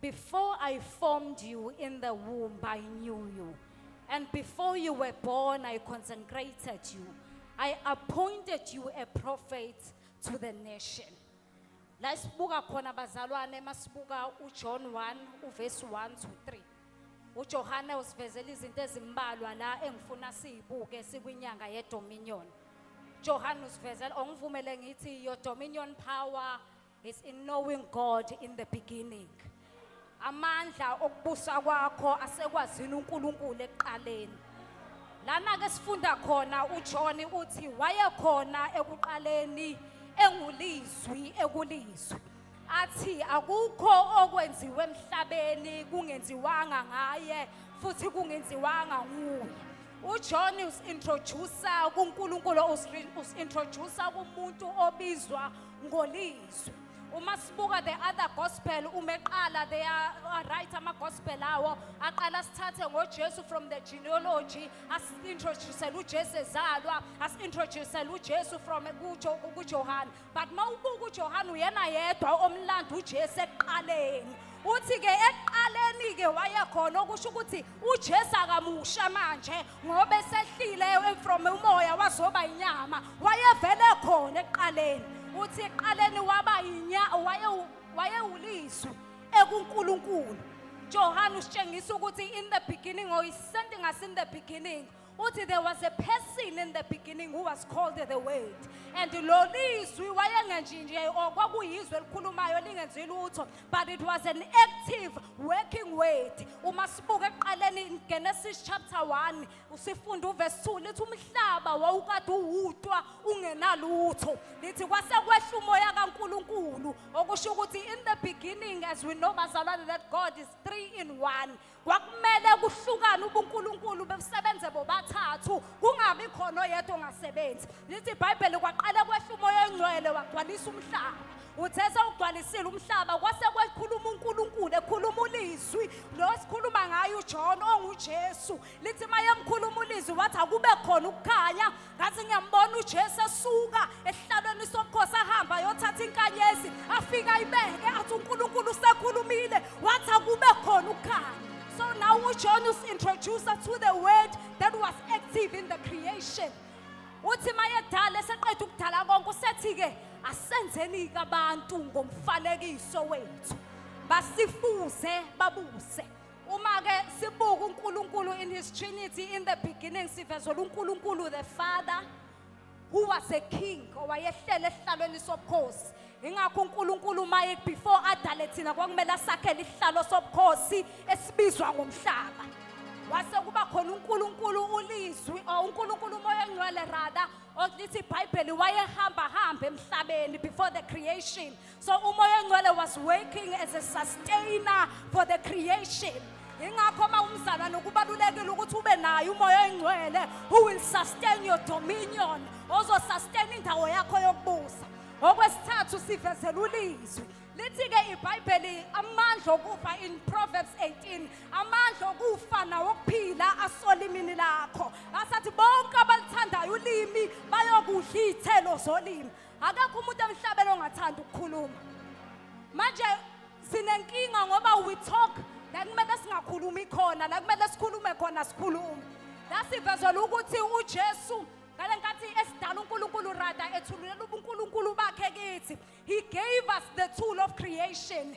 Before I formed you in the womb, I knew you. And before you were born, I consecrated you. I appointed you a prophet to the nation. La sibuka khona bazalwane masibuka uJohn 1 uverse 1 to 3. UJohane usivezela izinto ezimbalwa la engifuna sizibuke sikwinyanga yedominion. Johannes usivezela ongivumele ngithi your dominion power It's in knowing God in the beginning. Amandla okubusa kwakho asekwazini uNkulunkulu ekuqaleni. Lana ke sifunda khona uJohn uthi wayekhona ekuqaleni engulizwi ekulizwi. Athi akukho okwenziwe emhlabeni kungenziwanga ngaye futhi kungenziwanga nguye. uJohn usintroducer kuNkulunkulu usintroducer kumuntu obizwa ngolizwi uma sibuka the other gospel uma eqala they are are right ama gospel awo aqala sithathe ngoJesu from the genealogy asintroduce uJesu ezalwa asintroduce uJesu from kuJo kuJohane but mawubuka uJohane uyena yedwa omlando uJesu eqaleni uthi ke eqaleni ke wayekhona okusho ukuthi uJesu akamusha manje ngoba esehlile from umoya wazoba inyama wayevele khona ekuqaleni uthi ekuqaleni waba inya wayewulizwi ekuNkulunkulu Johane usitshengisa ukuthi in the beginning or is something as in the beginning uthi there was a person in the beginning who was called the word and lo lizwi wayengenjinje or kwakuyizwe elikhulumayo lingenzi lutho but it was an active working word uma sibuka ekuqaleni in genesis chapter 1 usifunda uvesi 2 lithi umhlaba wawukade uwutwa ungenalutho lithi kwase kwehla umoya kankulunkulu okusho ukuthi in the beginning as we know bazalwane that god is three in one kwakumele kuhlukane ubunkulunkulu bebusebenze bobathathu kungabi khona oyedwa ongasebenzi lithi ibhayibheli kwaqale kwehla umoya oyingcwele wagcwalisa umhlaba uthe sewugcwalisile umhlaba kwase kwekhuluma unkulunkulu ekhuluma ulizwi lo sikhuluma ngayo ujohn ongujesu lithi mayemkhuluma ulizwi wathi akube khona ukukhanya ngathi ngiyambona uJesu esuka esihlalweni sobukhosi ahamba ayothatha inkanyezi afika ayibeke athi uNkulunkulu usekhulumile wathi akube khona ukukhanya so now uJohn us introduce us to the word that was active in the creation uthi mayedala eseqeda ukudala konke usethi ke asenzeni kabantu ngomfalekiso wethu basifuze babuse Uma ke sibuka uNkulunkulu in his trinity in the beginning sivezela uNkulunkulu the father who was a king owayehlele esihlalweni sobukhosi ingakho uNkulunkulu uma before adale thina kwakumele asakhele isihlalo sobukhosi esibizwa ngomhlaba wase kuba khona uNkulunkulu ulizwi or uNkulunkulu umoya ongcwele rather okulithi iBhayibheli wayehamba hamba emhlabeni before the creation So umoya ongcwele was working as a sustainer for the creation. Ingakho uma umzalwane kubalulekile ukuthi ube naye umoya ongcwele who will sustain your dominion, ozo sustain indawo yakho yokubusa. Okwesithathu sivezela ulizwi. Lithi-ke iBhayibheli amandla okufa in Proverbs 18 amandla okufa nawokuphila asolimini lakho asathi bonke abalithandayo ulimi bayokudla iy'thelo zolimi akekho umuntu emhlabeni ongathanda ukukhuluma manje sinenkinga ngoba we talk la kumele singakhulumi khona la kumele sikhulume khona sikhulume la sivezela ukuthi ujesu ngale nkathi esidala unkulunkulu rada ethululela ubunkulunkulu bakhe kithi he gave us the tool of creation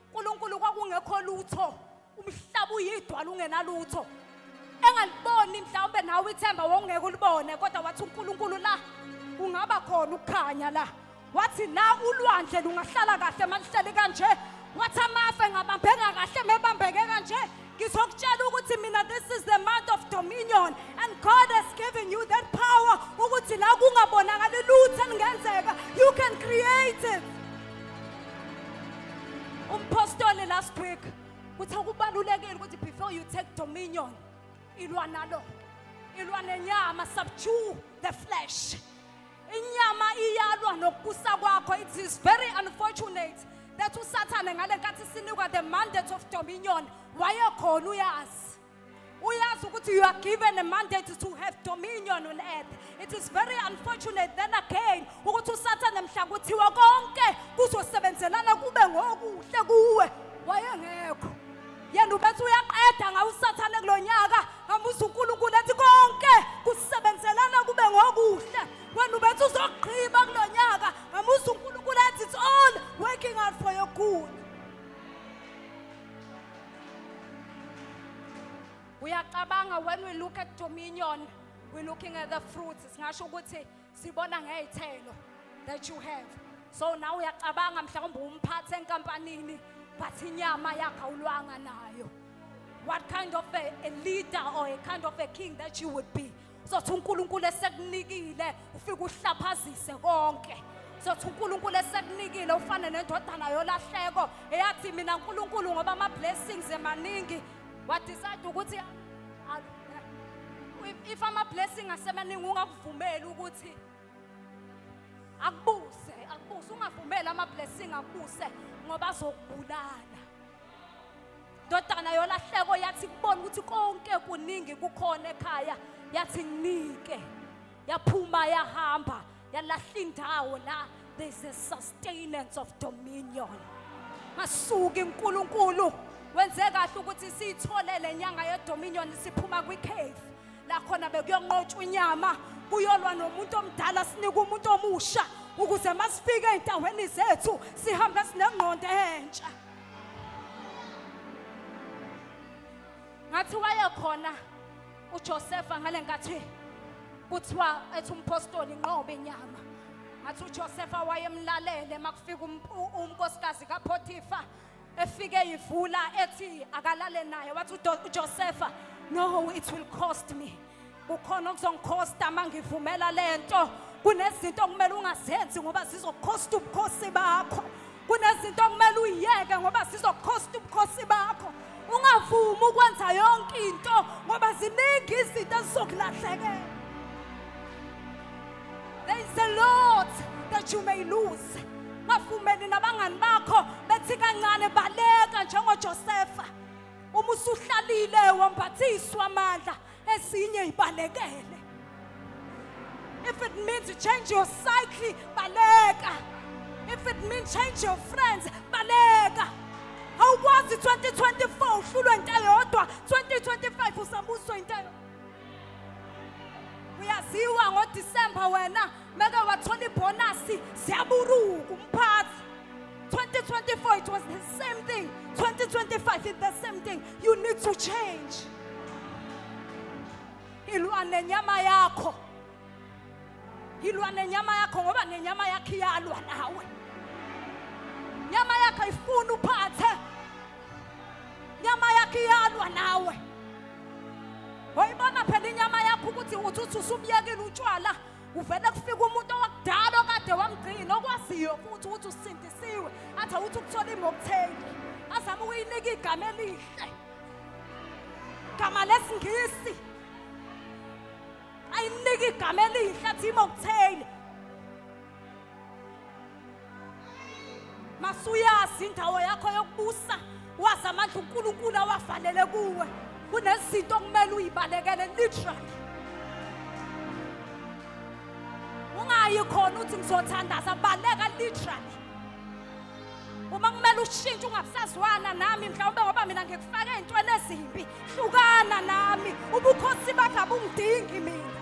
uNkulunkulu kwakungekho lutho umhlaba uyidwala ungenalutho engaliboni mhlawumbe nawe ithemba wawungeke ulibone kodwa wathi uNkulunkulu la kungaba khona ukukhanya la wathi la ulwandle lungahlala kahle malihleli kanje wathi amafe ngabambeka kahle mebambeke kanje ngizokutshela ukuthi mina this is the month of dominion and god has given you that power ukuthi la kungabonakali lutho elingenzeka you can create it umphostoli last week uthe kubalulekile ukuthi before you take dominion ilwa nalo ilwa nenyama subdue the flesh inyama iyalwa nokubusa kwakho it is very unfortunate that usathane ngale nkathi sinikwa the mandate of dominion wayekhona uyazi uyazi ukuthi you are given a mandate to have dominion on earth it is very unfortunate then again ukuthi usathane mhla kuthiwa konke kuzosebenzelana kube ngokuhle kuwe wayengekho yena ubethi uyaqeda ngawo usathane kulo nyaka ngamusa unkulunkulu ethi konke kusebenzelana kube ngokuhle wena ubethi uzogqiba kulo nyaka ngamusa unkulunkulu ethi it's all working out for your good uyacabanga when we look at dominion we're looking at the fruits singasho ukuthi sibona ngey'thelo that you have so nawe uyacabanga mhlawumbe umphathe enkampanini but inyama yakhe awulwanga nayo what kind of a, a leader or a kind of a king that you would be sothi unkulunkulu esekunikile ufike uhlaphazise konke sothi unkulunkulu esekunikile ufane nendodana yolahleko eyathi mina nkulunkulu ngoba ama-blessings emaningi wadecide ukuthi if ama-blessing asemaningi ungakuvumeli ukuthi akubuse akubuse ungavumeli ama-blessing akubuse ngoba azokubulala ndodana yolahleko yathi kubona ukuthi konke kuningi kukhona ekhaya yathi nginike yaphuma yahamba yalahla indawo la there's a sustenance of dominion masuka inkulunkulu wenze kahle ukuthi siyithole le nyanga yedominion siphuma kwicave la khona bekuyonqotshwa inyama kuyolwa nomuntu omdala sinika umuntu omusha ukuze masifike ezindaweni zethu sihambe sinengqondo entsha ngathi wayekhona uJosefa ngalenkathi kuthiwa ethi umpostoli inqobe inyama ngathi uJosefa wayemlalele makufika um-, unkosikazi kaPotifa efike yivula ethi akalale naye wathi uJosefa no it will cost me kukhona okuzongikhosta uma ngivumela lento kunezinto okumele ungazenzi ngoba zizokhosta ubukhosi bakho kunezinto okumele uyiyeke ngoba zizokhosta ubukhosi bakho ungavumi ukwenza yonke into ngoba ziningi izinto ezizokulahlekela there is a lot that you may lose ngavumeli nabangani bakho bethi kancane baleka njengojosefa uma usuhlalile wambathiswa amandla esinye ibalekele if it means change your cycle baleka if it means change your friends baleka awukwazi 2024 uhlulwe into eyodwa 2025 usambuswa into eyo uyaziwa ngodisemba wena Meke wathola ibhonasi siyaburuka umphathi. 2024 it was the same thing. 2025 it's the same thing. You need to change. Ilwa nenyama yakho. Ilwa nenyama yakho ngoba nenyama yakhe iyalwa nawe. Nyama yakho ifuna uphathe. Nyama yakhe iyalwa nawe. Wayibona phela inyama yakho ukuthi uthi uthi usubuyekile utshwala kuvele kufike umuntu owakudala okade wamgcina okwaziyo futhi ukuthi usindisiwe athi awuthi ukuthola imokuthengi azama ukuyinika igama elihle gama lesingisi ayinika igama elihle athi imokuthengi masuyazi indawo yakho yokubusa wazi amandla uNkulunkulu awavalele kuwe kunezinto okumele uyibalekele literally ungayi khona uthi ngizothandaza baleka literally uma kumele ushintshe ungabusazwana nami mhlawumbe ngoba mina ngikufake ey'ntweni ezimbi hlukana nami ubukhosi bakho abungidingi mina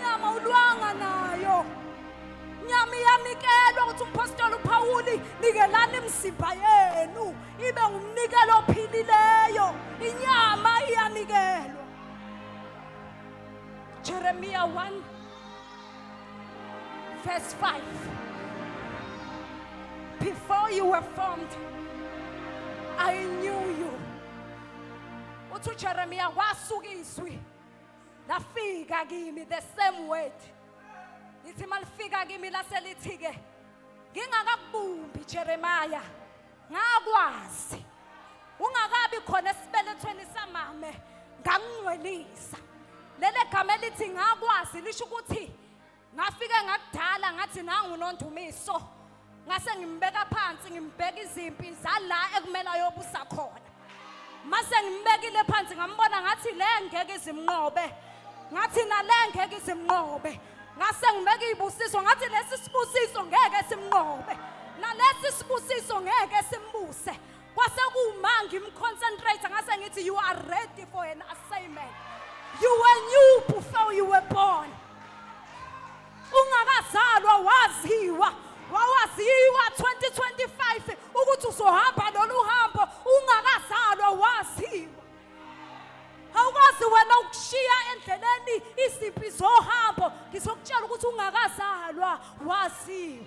Nyama ulwanga nayo. Nyama iyanikelwa ukuthi umpostoli uPawuli nikelani imizimba yenu ibe ngumnikelo ophilileyo. Inyama iyanikelwa. Jeremiah 1 verse 5 Before you were formed I knew you. Uthi uJeremiah wasuka izwi lafika kimi the same word lithi malifika kimi laselithi ke ngingakakubumbi Jeremiah ngakwazi ungakabi khona esibelethweni samame ngangcwelisa lele gama elithi ngakwazi lisho ukuthi ngafike ngakudala ngathi nangu nondumiso ngase ngimbeka phansi ngimbeka izimpi zala ekumele ayobusa khona mase ngimbekile phansi ngambona ngathi le ngeke izimnqobe ngathi nale ngeke izimnqobe ngase ngibeka izibusiso ngathi lesi sibusiso ngeke simnqobe nalesi sibusiso ngeke simbuse kwase kuma ngimconcentrate ngase ngithi you are ready for an assignment you were new before you were born ungakazalwa waziwa wawaziwa 2025 ukuthi uzohamba lolu hambo ungakazalwa waziwa awukwazi wena ukushiya endleleni izimpi zohambo ngizokutshela ukuthi ungakazalwa waziwa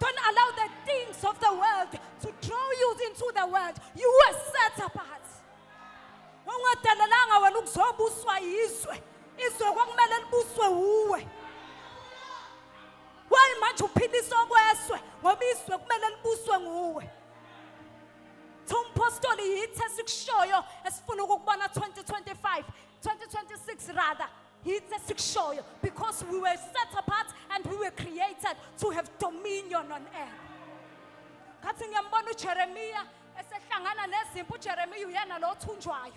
Don't allow the things of the world to draw you into the world. You were set apart. Ungadalelanga wena ukuzobuswa yizwe. Izwe kwakumele libuswe wuwe. Why manje uphilisa okweswe ngoba izwe kumele libuswe nguwe. Thompostoli yithe sikushoyo esifuna ukukubona 2025, 2026 rather. Yithi esikushoyo because we were set apart and we were created to have dominion on earth. Ngathi ngiyambona uJeremiya esehlangana nezimpi uJeremiya uyena lo othunjwayo.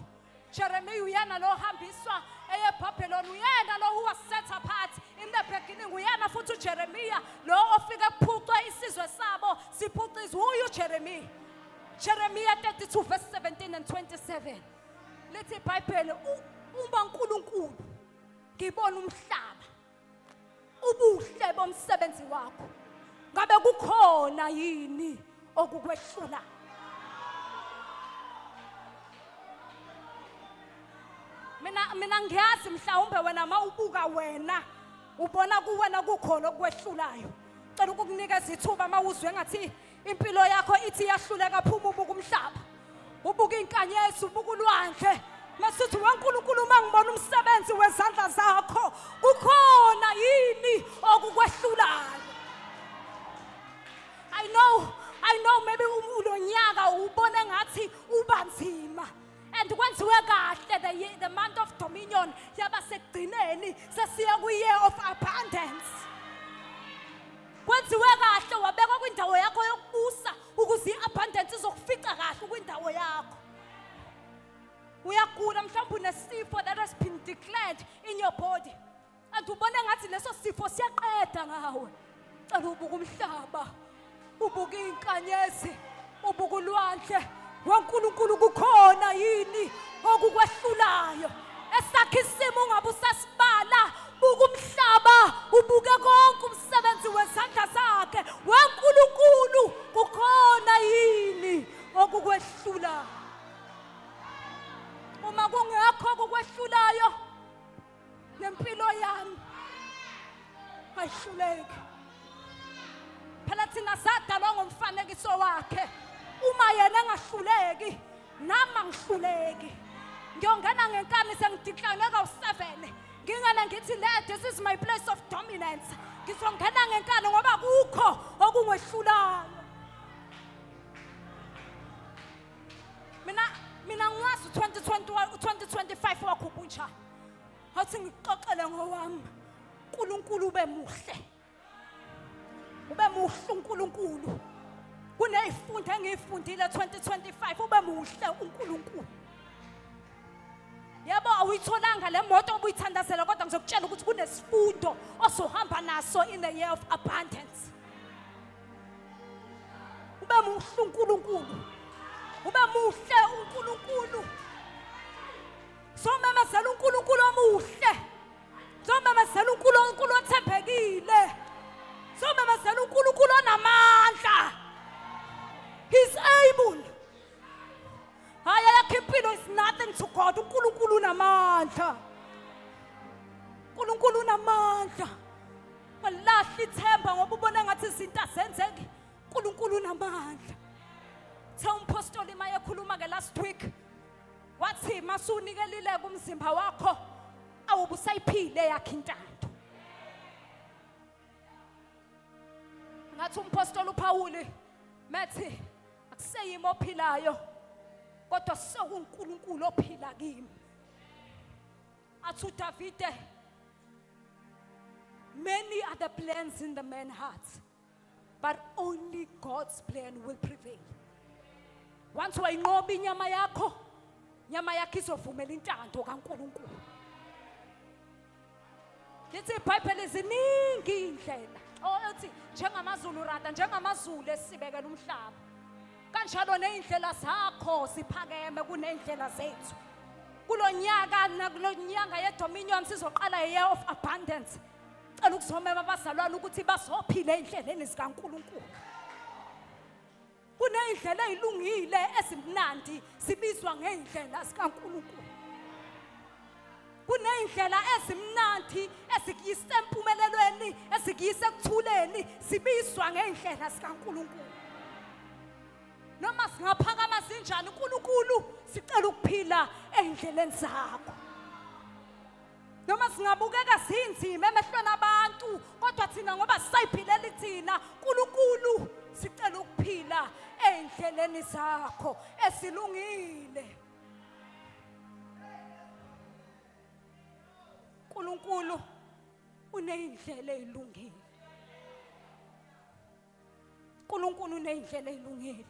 Jeremiya uyena lo ohambiswa eyeBhabheloni uyena lo who was set apart in the beginning uyena futhi uJeremiya lo ofike kuphucwe isizwe sabo siphucizwe uyu Jeremiya. Jeremiya 32 verse 17 and 27. lithi ibhayibheli u- uma unkulunkulu ngibona umhlaba ubuhle bomsebenzi wakho ngabe kukhona yini okukwehlula mina mina ngiyazi mhlawumbe wena uma ubuka wena ubona kuwena kukhona okukwehlulayo cela ukukunikeza ithuba uma uzwe ngathi impilo yakho ithi iyahluleka phuma ubuka umhlaba ubuka inkanyezi ubuka ulwandle masithi wenkulunkulu uma ngibona umsebenzi wezandla zakho kukhona yini okukwehlulayo i know i know maybe ulonyaka ubone ngathi ubanzima and kwenziwe kahle the, ye- the month of dominion yaba sekugcineni sesiya kwi-year of abundance kwenziwe kahle wabekwa kwindawo yakho yokubusa ukuze i-abundance izokufica kahle kwindawo yakho uyagula mhlawumbe unesifo that has been declared in your body and ubona ngathi leso sifo siyaqeda ngawe cela ubuka umhlaba ubuka iy'nkanyezi ubuka ulwandle wenkulunkulu kukhona yini okukwehlulayo esakhe isimo ungabe usasibala buka umhlaba ubuke konke umsebenzi wezandla zakhe wenkulunkulu kukhona yini okukwehlulayo uma kungekho okukwehlulayo nempilo yami ayihluleki phela thina sadalwa ngomfanekiso wakhe uma yena engahluleki nami angihluleki ngiyongena ngenkani sengidiklane kawu-seven ngingene ngithi le this is my place of dominance ngizongena ngenkani ngoba kukho okungehlulayo mina mina ngiwazi 2025 wakho ubunjani Wathi ngixoxele ngowami. uNkulunkulu ube muhle. Ube muhle uNkulunkulu. Kuneyifunda engiyifundile 2025 ube muhle uNkulunkulu. Yebo awuyitholanga le moto obuyithandazela kodwa ngizokutshela ukuthi kunesifundo osohamba naso in the year of abundance. Ube muhle uNkulunkulu. Ube muhle uNkulunkulu. somemezela unkulunkulu omuhle somemezela unkulunkulu othembekile somemezela unkulunkulu onamandla he's able hayi ayakho impilo is nothing to god unkulunkulu unamandla unkulunkulu unamandla walahla ithemba ngoba ubona ngathi izinto azenzeki unkulunkulu unamandla Tell Pastor Lima, I last week. wathi masunikelile kumzimba wakho awubusayiphile yakhe intando ngathi umpostoli uPawuli methi akuseyimi ophilayo kodwa sekunkulunkulu ophila kimi athi uDavide many are the plans in the man heart but only God's plan will prevail once wayinqoba inyama yakho nyama yakho izovumela intando kaNkuluNkulu lithi ibhayibheli ziningi iy'ndlela othi njengamazulu rada njengamazulu esibekela umhlaba kanjalo ney'ndlela zakho ziphakeme kuney'ndlela zethu kulo nyaka nakulo nyanga yedominion sizoqala year of abundance Cela ukuzomema abazalwane ukuthi bazophila eindleleni zikaNkuluNkulu. Kuneindlela ezilungile ezimnandi sibizwa ngeindlela zikaNkuluNkulu. kuneyindlela ezimnandi ezikuyisa empumelelweni ezikuyisa ekuthuleni sibizwa ngeindlela zikaNkuluNkulu noma singaphakama sinjani uNkulunkulu sicela ukuphila eindleleni zakho noma singabukeka sinzima emehlweni abantu kodwa thina ngoba sisayiphileli thina nkulunkulu sicela ukuphila ey'ndleleni zakho esilungile nkulunkulu uney'ndlela ey'lungile uNkulunkulu uneyindlela ezilungile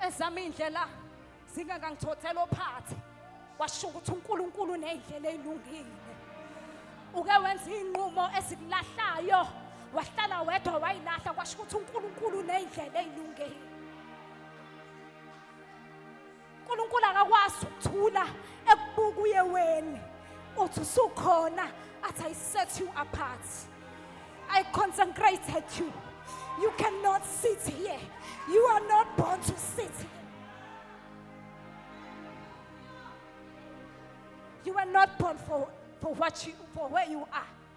ezama indlela zingangangithothela ophathi washo ukuthi uNkulunkulu uneyindlela ezilungile uke wenza inqumo ezikulahlayo wahlala wedwa wayilahla kwasho ukuthi uNkulunkulu uneyindlela ezilungile uNkulunkulu akakwazi ukuthula ekubuka uye weni uthi usukhona athi i set you apart i consecrated you you cannot sit here you are not born to sit here you are not born for, for what you for where you are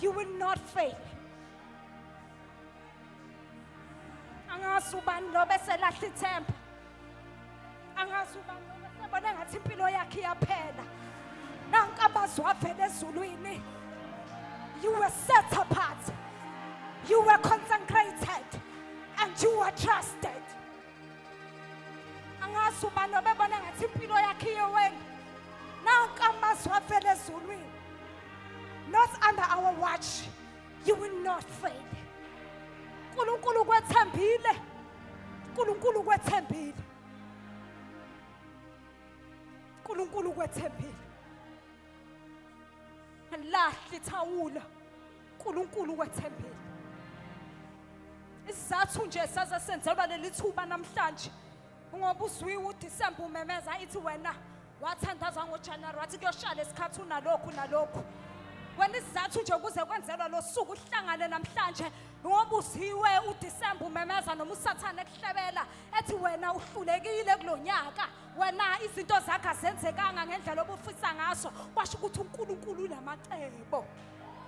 You will not fail. Angazi ubani lo bese lahla ithemba. Angazi ubani lo bese bona ngathi impilo yakhe iyaphela. Nanka amazwi avela ezulwini. You were set apart. You were consecrated and you were trusted. angazi ubani obebona ngathi impilo yakhe iyeweni nanka amazwi avela ezulwini not under our watch you will not fail unkulunkulu ukwethembile unkulunkulu ukwethembile unkulunkulu ukwethembile alilahli ithawula uNkulunkulu wethembile isizathu nje saze senzelwa leli thuba namhlanje ngoba uzwiwe uDisemba umemeza ithi wena wathandaza ngoJanuary wathi kuyoshala isikhathi unalokhu nalokhu wena isizathu nje ukuze kwenzelwa lo suku uhlangane namhlanje ngoba uziwe uDisemba umemeza noma usathane ekuhlebela ethi wena uhlulekile kulonyaka wena izinto zakho azenzekanga ngendlela obufisa ngaso kwasho ukuthi uNkulunkulu unamacebo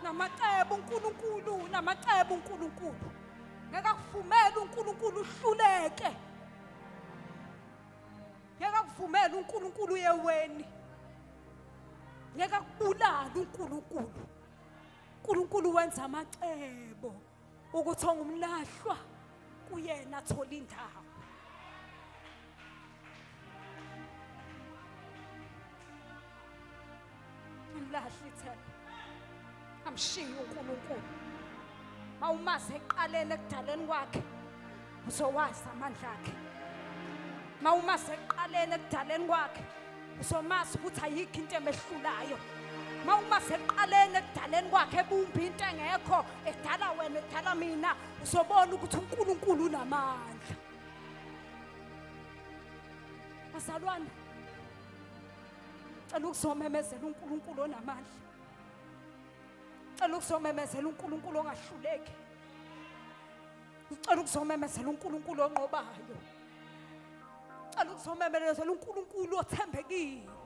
namacebo uNkulunkulu namacebo uNkulunkulu ngeke akuvumele uNkulunkulu uhluleke ngeke akuvumele uNkulunkulu uyeweni ngeke akubulale uNkulunkulu uNkulunkulu wenza amacebo ukuthi ongumlahlwa kuyena athola indawo ngimlahle ithemba amshiye uNkulunkulu mawumazi eqaleni ekudaleni kwakhe uzowazi amandla akhe mawuma sekuqaleni ekudaleni kwakhe uzomazi ukuthi ayikho into emehlulayo mawuma sekuqaleni ekudaleni kwakhe ebumbi into engekho edala wena edala mina uzobona ukuthi uNkulunkulu unamandla bazalwane cela ukuzomemezela uNkulunkulu onamandla cela ukuzomemezela uNkulunkulu ongahluleki ngicela ukuzomemezela uNkulunkulu onqobayo ngicela ukuzomemezela uNkulunkulu othembekile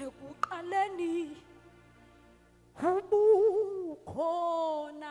ekuqaleni ubukhona